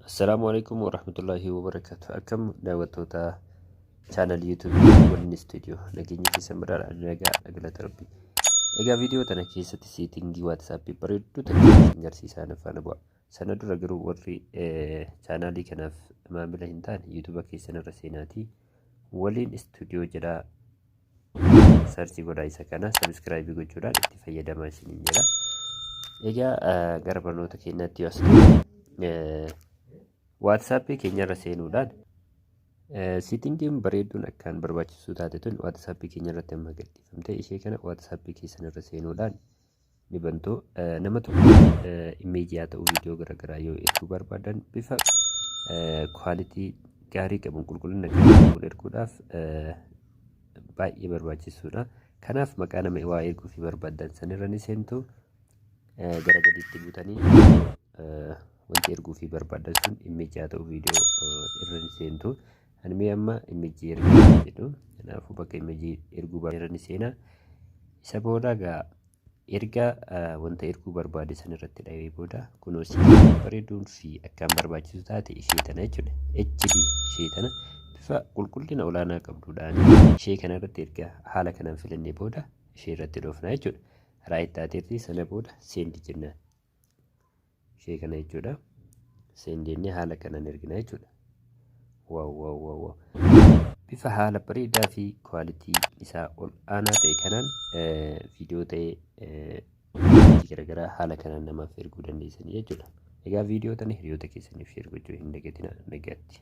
Assalaamu alaikum warahmatullaahi wabarakaatu. Akkam daawwattoota chaanal yuutuubii Golden Studio nageenya keessan badhaadha nagaa galata rabbi. Egaa viidiyoo tana keessatti seetingii waatsaappii bareedduu ta'e isin garsiisaa na faana bu'a. Sana dura garuu warri chaanaalii kanaaf maamila hin taane yuutuuba keessan irra seenaatii waliin istuudiyoo jedhaa sarchi godhaa isa kana sabiskiraayibii gochuudhaan itti fayyadamaa isiniin jedha. Egaa gara barnoota keenyaatti yoo asirratti waatsaappii keenyarra seenuudhaan siitingiin bareedduun akkaan barbaachisuu taate tun waatsaappii keenyarratti amma gadhiifamte ishee kana waatsaappii keessanirra seenuudhaan ni bantu. Eh, Nama tokko image haa ta'u viidiyoo garaagaraa yoo erguu barbaadan bifa quality gaarii qabuun qulqullina gaarii qabuun erguudhaaf eh, baay'ee barbaachisuudha. Kanaaf maqaa nama waa erguu fi barbaadan sanirra ni seentu eh, gara gadiitti buutanii eh, wanti erguu fi barbaadan sun image haa ta'u viidiyoo eh, irra ni seentu. Ani mee amma imijii erguu hin jedhu. Kanaafuu bakka imijii erguu barbaadani seenaa. Isa booda gaa erga ah, wanta erguu barbaade san irratti dhahee booda kunoo si bareeduun fi akkaan barbaachisu taate ishee tana jechuudha. HD ishee tana bifa qulqullina olaanaa qabduudhaan ishee kana irratti erga haala kanaan filannee booda ishee irratti dhoofna jechuudha. Raayit taateerti sana booda seendi jennaan. ishee kana jechuudha seen jennee haala kanaan ergina jechuudha waaw waaw waaw waaw bifa haala bareedaa fi kwaalitii isaa ol aanaa ta'e kanaan viidiyoo ta'e garaagaraa haala kanaan namaaf erguu dandeessanii jechuudha egaa viidiyoo tana hiriyoota keessaniif sheer gochuu hin dagatinaa nagaatti